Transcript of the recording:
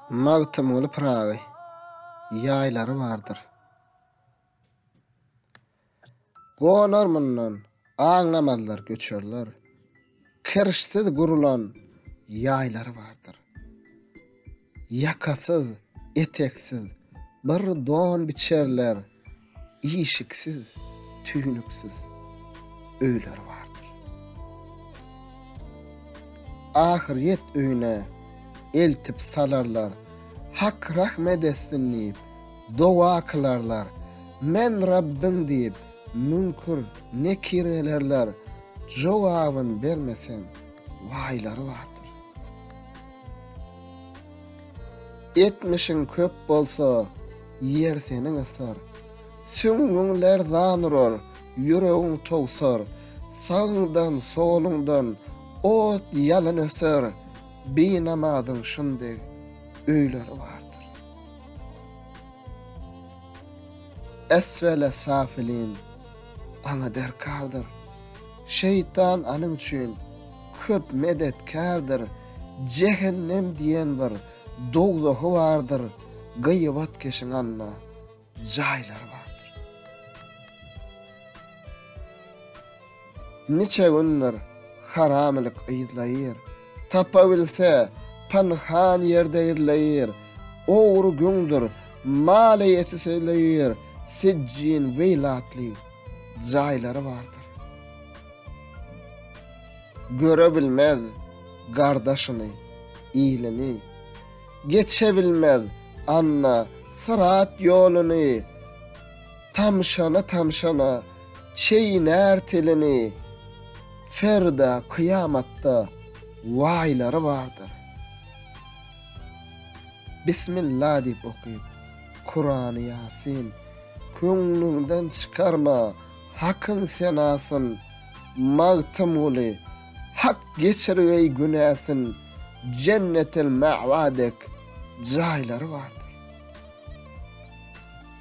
Magtymguly Pyragy ýaýlary bardyr. Gonar mundan, aňlamazlar göçerler. Kirşsiz gurulan ýaýlary bardyr. Ýakasyz, eteksiz bir don biçerler, işiksiz, tüýnüksiz öýleri bardyr. Ahyryýet öýüne eltip salarlar, Hak rahmet etsin diýip, doga kylarlar, Men Rabbyň diýip, Müňkür, nekir gelerler, jogabyn bermeseň, waýlary bardyr. Etmişiň köp bolsa, ýer seni gysar, süňňüň lerzan urar, ýüregiň towsar, sagyňdan, soluňdan ot ýalyn öser, binamazyň şundeg öýleri bardyr. Esfele safilin, aňa derkardyr. Şeýtan anyň üçin köp medetkärdir. Jehennem diýen bir dowzahy bardyr, gyýbatkeşiň anda jaýlary bardyr. Niçe gündir haramylyk yzlaýyr. Tapabilse, pynhan ýerde gizleýir. Ogry güňdir mal-eýesi sözleýir. Sijjin, Weýl atly jaýlary bardyr. Görebilmez gardaşyny, ilini. Geçebilmez anna syrat ýoluny. Tamşala-tamşala çeýnär tilini, Ferda kyýamatda waýlary bardyr. Bismilla diýip okyp, Kurany Ýasin, Köňlüňden çykarma Hakyň senasyn, Magtymguly, Hak geçirgeý günäsin, Jennetel-Mäwa dek jaýlary bardyr.